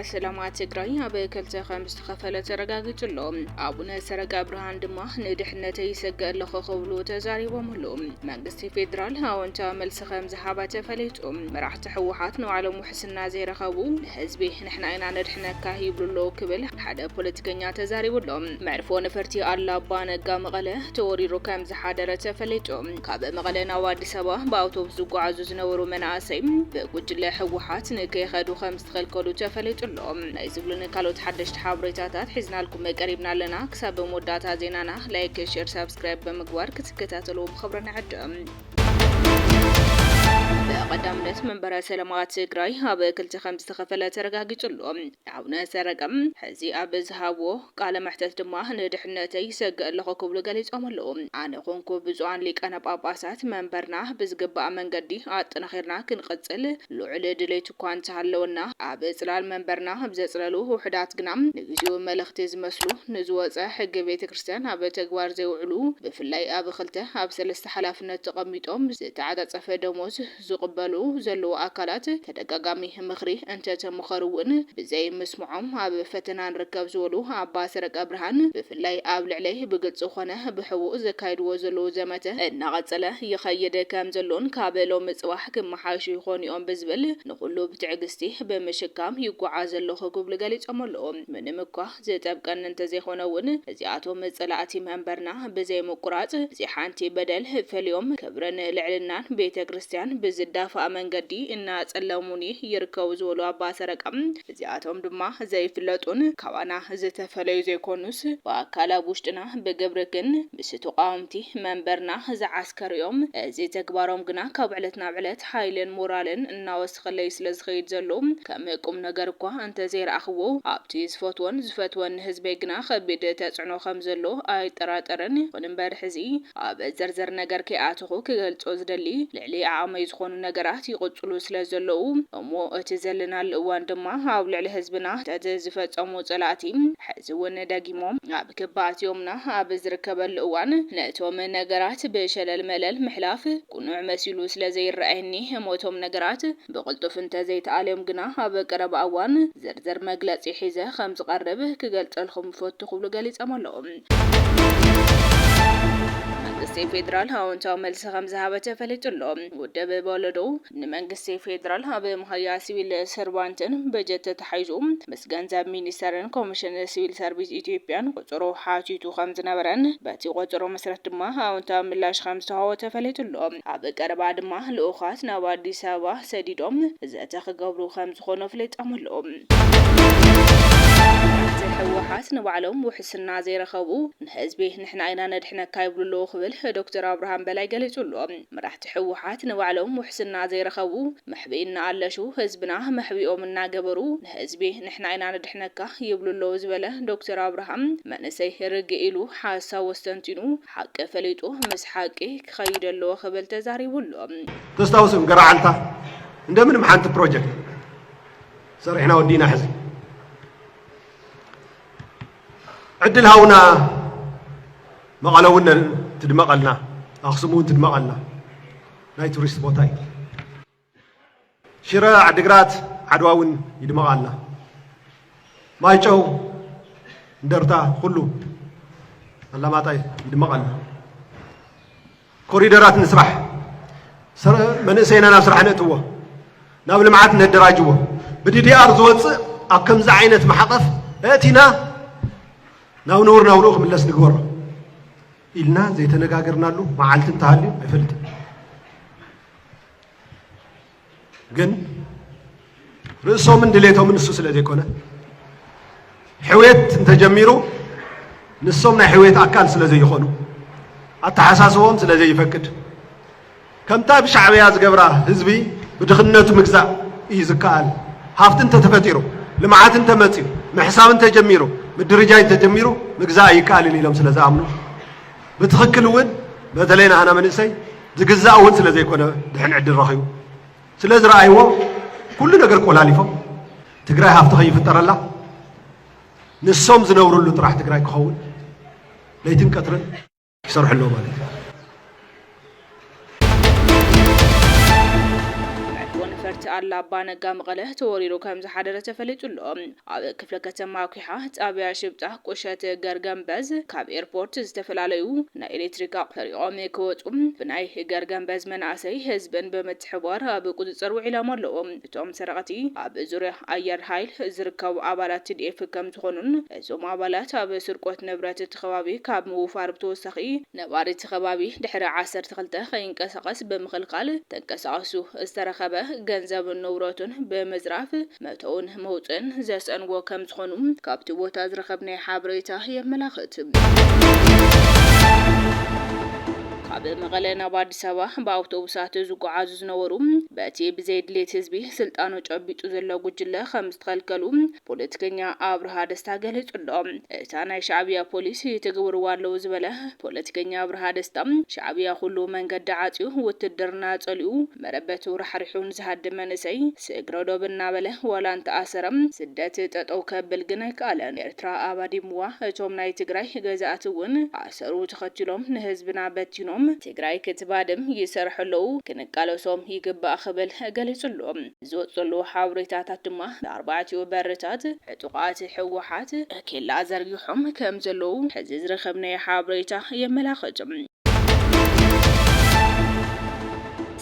ሰላማ ትግራይ ኣብ ክልተ ከም ዝተኸፈለ ተረጋጊጹ ኣሎ። ኣቡነ ሰረቀ ብርሃን ድማ ንድሕነተይ ይሰገ ኣለኹ ክብሉ ተዛሪቦምሉ። መንግስቲ ፌዴራል ኣወንታ መልሲ ከም ዝሃበ ተፈሊጡ። መራሕቲ ህወሓት ንባዕሎም ቅስና ዘይረኸቡ ንህዝቢ ንሕና ኢና ነድሕነካ ይብሉ ኣለዉ ክብል ሓደ ፖለቲከኛ ተዛሪቡ ኣሎ። መዕርፎ ነፈርቲ ኣላ ኣባ ነጋ መቐለ ተወሪሩ ከም ዝሓደረ ተፈሊጡ። ካብ መቐለ ናብ ኣዲስ ኣበባ ብኣውቶቡስ ዝጓዓዙ ዝነበሩ መናእሰይ ብጉጅለ ህወሓት ንከይኸዱ ከም ዝተኸልከሉ ተፈሊጡ ኣሎ። ናይ ዝብሉን ካልኦት ሓደሽቲ ሓበሬታታት ሒዝናልኩም ቀሪብና ኣለና። ክሳብ መወዳእታ ዜናና ላይክ፣ ሼር፣ ሳብስክራይብ ብምግባር ክትከታተልዎ ብኽብሪ ንዕድም። ብቐዳምነት መንበረ ሰላማ ትግራይ ኣብ ክልተ ከምዝተኸፈለ ተረጋጊፁ ኣሎ። ኣቡነ ሰረቀ ሕዚ ኣብ ዝሃብዎ ቃለ መሕተት ድማ ንድሕነተይ ይሰግእ ኣለኹ ክብሉ ገሊፆም ኣለው። ኣነ ኹንኩ ብፁዓን ሊቃነ ጳጳሳት መንበርና ብዝግባእ መንገዲ ኣጠናኺርና ክንቕፅል ልዑል ድሌቱ እኳ እንተሃለወና፣ ኣብ ጽላል መንበርና ብዘጽለሉ ውሑዳት ግና ንግዚኡ መለኽቲ ዝመስሉ፣ ንዝወጸ ሕጊ ቤተ ክርስቲያን ኣብ ተግባር ዘይውዕሉ፣ ብፍላይ ኣብ ኽልተ ኣብ ሰለስተ ሓላፍነት ተቐሚጦም ዝተዓጻጸፈ ደሞዝ ዝቕበሉ ዘለዉ ኣካላት ተደጋጋሚ ምኽሪ እንተተመኸሩ'ውን ብዘይ ምስምዖም ኣብ ፈተና ንርከብ ዝበሉ ኣባ ሰረቀብርሃን ብፍላይ ኣብ ልዕለይ ብግልጺ ኾነ ብሕቡእ ዘካይድዎ ዘለዉ ዘመተ እናቐጸለ ይኸይድ ከምዘሎን ካብ ሎሚ ጽባሕ ክመሓየሹ ይኾኑ'ዮም ብዝብል ንኹሉ ብትዕግስቲ ብምሽካም ይጎዓዝ ኣለኹ ክብሉ ገሊጾም ኣለዉ። ምንም'ኳ ዝጠብቀኒ እንተዘይኾነ'ውን እዚኣቶም ጸላእቲ መንበርና ብዘይምቁራጽ ብዘይ ሓንቲ በደል ፈልዮም ክብርን ልዕልናን ቤተክርስትያን ብዝዳፋእ መንገዲ እናኣጸለሙኒ ይርከቡ ዝበሉ ኣባ ሰረቀ፣ እዚኣቶም ድማ ዘይፍለጡን ካባና ዝተፈለዩ ዘይኮኑስ ብኣካል ኣብ ውሽጥና ብግብሪ ግን ምስ ተቋወምቲ መንበርና ዝዓስከሩ፣ ከርእዮም፣ እዚ ተግባሮም ግና ካብ ዕለት ናብ ዕለት ሓይልን ሞራልን እናወሰኸለይ ስለ ዝኸይድ ዘሎ ከም ቁምነገር እኳ እንተ ዘይረኣኽዎ ኣብቲ ዝፈትዎን ዝፈትወን ንህዝበይ ግና ከቢድ ተጽዕኖ ከም ዘሎ ኣይጠራጠርን ይኹን እምበር ሕዚ ኣብ ዝርዝር ነገር ከይኣተኹ ክገልጾ ዝደሊ ልዕሊ ዓቕመይ ዝኾኑ ነገራት ይቕጽሉ ስለ ዘለዉ እሞ እቲ ዘለናሉ እዋን ድማ ኣብ ልዕሊ ህዝብና ነቲ ዝፈጸሙ ጸላእቲ ሕዚ ውን ደጊሞም ክባ ኣትዮምና ኣብ ዝርከበሉ እዋን ነቶም ነገራት ብሸለል መለል ምሕላፍ ቁኑዕ መሲሉ ስለ ዘይረኣየኒ እሞ እቶም ነገራት ብቕልጡፍ እንተ ዘይተኣልዮም ግና ኣብ ቀረባ እዋን ዝርዝር መግለጺ ሒዘ ከም ዝቐርብ ክገልጸልኩም እፈቱ ክብሉ ገሊጸም ኣለዉ። መንግስቲ ፌደራል ኣወንታዊ መልሲ ከም ዝሃበ ተፈሊጡ ኣሎ። ውድብ በሎዶ ንመንግስቲ ፌደራል ኣብ መሃያ ሲቪል ሰርቫንትን በጀት ተታሒዙ ገንዘብ ሚኒስተርን ኮሚሽን ስቪል ሰርቪስ ኢትዮጵያን ቁጽሩ ሓቲቱ ከም ዝነበረን በቲ ቁጽሩ መስረት ድማ ኣወንታዊ ምላሽ ከም ዝተዋህቦ ተፈሊጡ ኣሎ። ኣብ ቀረባ ድማ ልኡኻት ናብ ኣዲስ ኣበባ ሰዲዶም ዘተ ክገብሩ ከም ዝኾኑ ኣፍሊጦም ኣለዉ። መራሕቲ ህወሓት ንባዕሎም ውሕስና ዘይረኸቡ ንህዝቢ ንሕና ኢና ነድሕነካ ይብሉ ኣለዉ ክብል ዶክተር ኣብርሃም በላይ ገሊጹ ኣሎ። መራሕቲ ህወሓት ንባዕሎም ውሕስና ዘይረኸቡ መሕብኢ እናኣለሹ ህዝብና መሕብኢኦም እናገበሩ ንህዝቢ ንሕና ኢና ነድሕነካ ይብሉ ኣለዉ ዝበለ ዶክተር ኣብርሃም መንእሰይ ርግእ ኢሉ ሓሳቡ ኣስተንቲኑ ሓቂ ፈሊጡ ምስ ሓቂ ክኸይድ ኣለዎ ክብል ተዛሪቡ ኣሎ። ተስታውሱ ገረዓልታ እንደምንም ሓንቲ ፕሮጀክት ሰሪሕና ወዲእና ሕዚ። ዕድል ሃቡና መቐለ እውን ትድመቐልና ኣኽሱም እውን ትድመቐልና ናይ ቱሪስት ቦታ እዩ። ሽረ ዓድግራት ዓድዋ እውን ይድመቓልና ማይጨው እንደርታ ኩሉ ኣላማጣ ይድመቐልና። ኮሪደራት ንስራሕ፣ መንእሰይና ናብ ስራሕ ነእትዎ፣ ናብ ልምዓት ነደራጅዎ። ብዲዲኣር ዝወፅእ ኣብ ከምዚ ዓይነት ማሕቐፍ እእቲና ናብ ንቡር ናብርኡ ክምለስ ንግበሮ ኢልና ዘይተነጋገርናሉ መዓልቲ እንተሃልዩ ኣይፈልጥን። ግን ርእሶምን ድሌቶምን ንሱ ስለ ዘይኮነ ሕውየት እንተጀሚሩ ንሶም ናይ ሕውየት ኣካል ስለ ዘይኾኑ ኣተሓሳስቦም ስለ ዘይፈቅድ ከምታ ብሻዕብያ ዝገብራ ህዝቢ ብድኽነቱ ምግዛእ እዩ ዝከኣል ሃፍቲ እንተተፈጢሩ ልምዓት እንተመፅዩ ምሕሳብ እንተጀሚሩ ምድርጃይ እንተጀሚሩ ምግዛእ ኣይከኣልን ኢሎም ስለ ዝኣምኑ ብትኽክል እውን በተለይ ንኣና መንእሰይ ዝግዛእ እውን ስለ ዘይኮነ ድሕን ዕድል ረኺቡ ስለ ዝረኣይዎ ኩሉ ነገር ቆላሊፎም ትግራይ ሃፍቲ ከይፍጠረላ ንሶም ዝነብርሉ ጥራሕ ትግራይ ክኸውን ለይትን ቀትርን ይሰርሑ ኣለዉ ማለት እዩ። መዕርፎ ነፈርቲ ኣላ ኣባ ነጋ መቐለ ተወሪሩ ከምዝሓደረ ተፈሊጡ ኣሎ። ኣብ ክፍለ ከተማ ኩሓ ጣብያ ሽብጣ ቁሸት ገርገምበዝ ካብ ኤርፖርት ዝተፈላለዩ ናይ ኤሌክትሪክ ኣቑሑ ሰሪቖም ክወፁ ብናይ ገርገምበዝ መናእሰይ ህዝብን ብምትሕብባር ኣብ ቁፅፅር ውዒሎም ኣለዉ። እቶም ሰረቕቲ ኣብ ዙርያ ኣየር ሃይል ዝርከቡ ኣባላት ቲዲኤፍ ከምዝኾኑን እዞም ኣባላት ኣብ ስርቆት ንብረት እቲ ከባቢ ካብ ምውፋር ብተወሳኺ ነባሪ እቲ ከባቢ ድሕሪ ዓሰርተ ክልተ ከይንቀሳቐስ ብምኽልካል ተንቀሳቐሱ ዝተረኸበ ገንዘብን ንውረቱን ብምዝራፍ መእተውን መውፅእን ዘስእንዎ ከምዝኾኑ ካብቲ ቦታ ዝረኸብናዮ ሓበሬታ የመላኽት። ካብ መቐለ ናብ ኣዲስ ኣበባ ብኣውቶቡሳት ዝጓዓዙ ዝነበሩ በቲ ብዘይ ድሌት ህዝቢ ስልጣኑ ጨቢጡ ዘሎ ጉጅለ ከምዝተኸልከሉ ፖለቲከኛ ኣብርሃ ደስታ ገሊጹ'ሎ። እታ ናይ ሻዕብያ ፖሊስ ይትግብርዋ ኣለዉ ዝበለ ፖለቲከኛ ኣብርሃ ደስታ፣ ሻዕብያ ኩሉ መንገዲ ዓጽዩ፣ ውትድርና ጸሊኡ፣ መረበቱ ራሕሪሑ ንዝሃድም መንእሰይ ስግረ ዶብ እናበለ ዋላ እንተኣሰረ ስደት ጠጠው ከብል ግን ኣይከኣለን። ኤርትራ ኣባዲምዋ፣ እቶም ናይ ትግራይ ገዛእቲ'ውን ኣሰሩ ተኸቲሎም ንህዝብና በቲኖም ትግራይ ክትባድም ይሰርሑ ኣለዉ፣ ክንቃለሶም ይግባእ ክብል ገሊጹ'ሎ። ዝወጽ ዘለዉ ሓበሬታታት ድማ ንኣርባዕቲኡ በርታት ዕጡቓት ህወሓት ኬላ ዘርጊሖም ከም ዘለዉ ሕዚ ዝረኸብናዮ ሓበሬታ የመላኽት።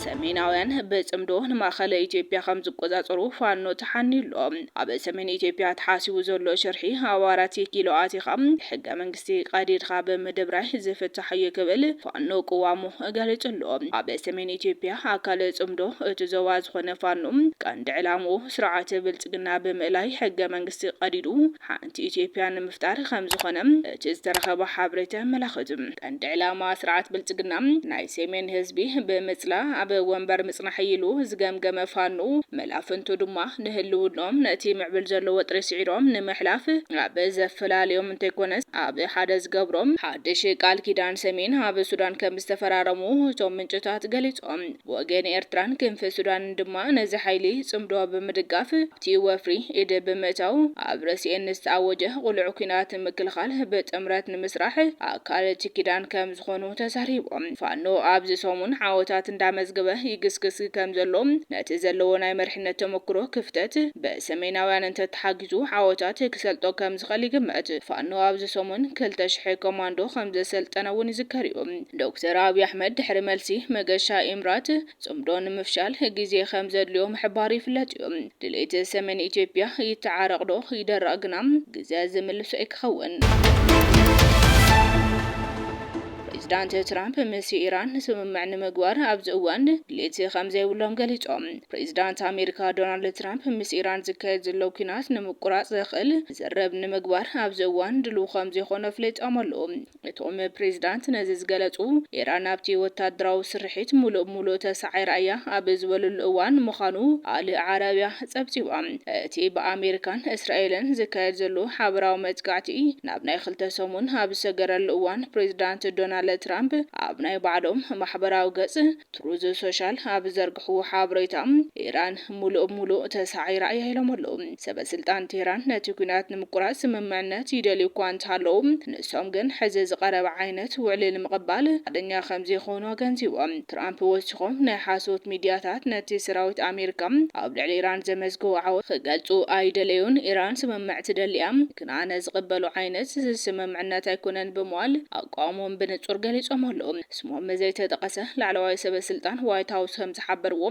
ሰሜናውያን ብጽምዶ ንማእኸላይ ኢትዮጵያ ከም ዝቆጻጸሩ ፋኖ ተሓንዩ ኣሎ። ኣብ ሰሜን ኢትዮጵያ ተሓሲቡ ዘሎ ሽርሒ ኣብ ኣራት ኪሎ ኣቲኻ ሕገ መንግስቲ ቀዲድካ ብምድብራይ ዝፍታሕ'ዩ ክብል ፋኖ ቅዋሙ ገሊጹ ኣሎ። ኣብ ሰሜን ኢትዮጵያ ኣካል ጽምዶ እቲ ዞባ ዝኾነ ፋኖ ቀንዲ ዕላምኡ ስርዓት ብልጽግና ብምእላይ ሕገ መንግስቲ ቀዲዱ ሓንቲ ኢትዮጵያ ንምፍጣር ከምዝኾነ እቲ ዝተረኸበ ሓበሬታ የመላኽት። ቀንዲ ዕላማ ስርዓት ብልጽግና ናይ ሰሜን ህዝቢ ብምጽላእ ኣብ ወንበር ምጽናሕ እዩ ኢሉ ዝገምገመ ፋኖ መላፍንቱ ድማ ንህልውንኦም ነቲ ምዕብል ዘሎ ወጥሪ ስዒሮም ንምሕላፍ ኣብ ዘፈላልዮም እንተይኮነስ ኣብ ሓደ ዝገብሮም ሓድሽ ቃል ኪዳን ሰሜን ኣብ ሱዳን ከም ዝተፈራረሙ እቶም ምንጭታት ገሊጾም። ብወገን ኤርትራን ክንፊ ሱዳንን ድማ ነዚ ሓይሊ ጽምዶ ብምድጋፍ ኣብቲ ወፍሪ ኢድ ብምእታው ኣብ ርእሲኤን ንዝተኣወጀ ቅሉዕ ኲናት ንምክልኻል ብጥምረት ንምስራሕ ኣካል እቲ ኪዳን ከምዝኾኑ ተዛሪቦም። ፋኖ ኣብዚ ሰሙን ዓወታት እንዳመዝገበ ይግስግስ ከምዘሎ ነቲ ዘለዎ ናይ መሪሕነት ተመኩሮ ክፍተት ብሰሜናውያን እንተተሓጊዙ ዓወታት ክሰልጦ ከምዝኽእል ይግመት። ፋኖ ኣብዚ ሰሙን ክልተ ሽሕ ኮማንዶ ከምዘሰልጠነ እውን ይዝከር'ዩ። ዶክተር ኣብይ ኣሕመድ ድሕሪ መልሲ መገሻ ኤምራት ጽምዶ ንምፍሻል ግዜ ከምዘድልዮ ምሕባሩ ይፍለጥ'ዩ። ድሌት ሰሜን ኢትዮጵያ ይተዓረቕ ዶ ይደረቕ ግና ግዘ ዝምልሶ ኣይክኸውንን። ፕሬዝዳንት ትራምፕ ምስ ኢራን ስምምዕ ንምግባር ኣብዚ እዋን ድሌት ከምዘይብሎም ገሊጾም። ፕሬዚዳንት ኣሜሪካ ዶናልድ ትራምፕ ምስ ኢራን ዝካየድ ዘሎ ኲናት ንምቁራፅ ዘኽእል ዝርርብ ንምግባር ኣብዚ እዋን ድሉው ከምዘይኾኑ ኣፍሊጦም ኣለው። እቶም ፕሬዚዳንት ነዚ ዝገለፁ ኢራን ኣብቲ ወታደራዊ ስርሒት ሙሉእ ብሙሉእ ተሳዒራ እያ ኣብ ዝበልሉ እዋን ምዃኑ ኣል ዓረቢያ ፀብፂባ። እቲ ብኣሜሪካን እስራኤልን ዝካየድ ዘሎ ሓበራዊ መጥቃዕቲ ናብ ናይ ክልተ ሰሙን ኣብ ዝሰገረሉ እዋን ፕሬዚዳንት ዶናልድ ትራምፕ ኣብ ናይ ባዕሎም ማሕበራዊ ገፅ ትሩዝ ሶሻል ኣብ ዝዘርግሕዎ ሓበሬታ፣ ኢራን ሙሉእ ብሙሉእ ተሳዒራ እያ ኢሎም ኣለው። ሰበ ስልጣን ቴህራን ነቲ ኲናት ንምቁራፅ ስምምዕነት ይደልዩ እኳ እንተሃለው፣ ንሶም ግን ሕዚ ዝቐረበ ዓይነት ውዕሊ ንምቕባል ፍቓደኛ ከምዘይኾኑ ኣገንዚቦም። ትራምፕ ወሲኾም ናይ ሓሶት ሚድያታት ነቲ ሰራዊት ኣሜሪካ ኣብ ልዕሊ ኢራን ዘመዝገቦ ዓወት ክገልፁ ኣይደለዩን፣ ኢራን ስምምዕ ትደሊ እያ ግን ኣነ ዝቕበሎ ዓይነት ስምምዕነት ኣይኮነን ብምባል ኣቋሞም ብንፁር ገሊፆም ኣለው። ስሞም ዘይተጠቐሰ ላዕለዋይ ሰበስልጣን ዋይት ሃውስ ከምዝሓበርዎ፣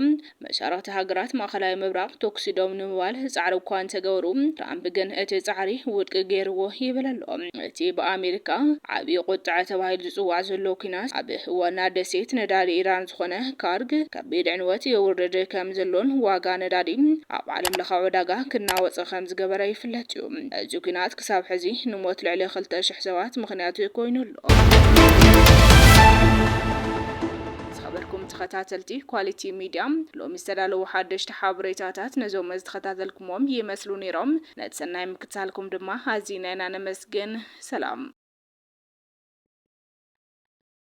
መሻርኽቲ ሃገራት ማእኸላይ ምብራቕ ቶኵሲ ደው ንምባል ጻዕሪ እኳ እንተገበሩ፣ ትራምፕ ግን እቲ ጻዕሪ ውድቂ ገይርዎ ይብል ኣሎ። እቲ ብኣሜሪካ ዓብዪ ቁጥዐ ተባሂሉ ዝጽዋዕ ዘሎ ኲናት፣ ኣብ ዋና ደሴት ነዳዲ ኢራን ዝኾነ ካርግ ከቢድ ዕንወት የውርድ ከምዘሎን ዋጋ ነዳዲ ኣብ ዓለምለኻዊ ዕዳጋ ክናወጽ ከምዝገበረ ይፍለጥ እዩ። እዚ ኲናት ክሳብ ሕዚ ንሞት ልዕሊ ክልተ ሽሕ ሰባት ምኽንያት ኮይኑ ኣሎ። ዝኸበርኩም ተኸታተልቲ ኳሊቲ ሚድያ ሎሚ ዝተዳለዉ ሓደሽቲ ሓበሬታታት ነዞም ዝተኸታተልኩምዎም ይመስሉ ነይሮም። ነቲ ሰናይ ምክትታልኩም ድማ ኣዚና ኢና ነመስግን። ሰላም።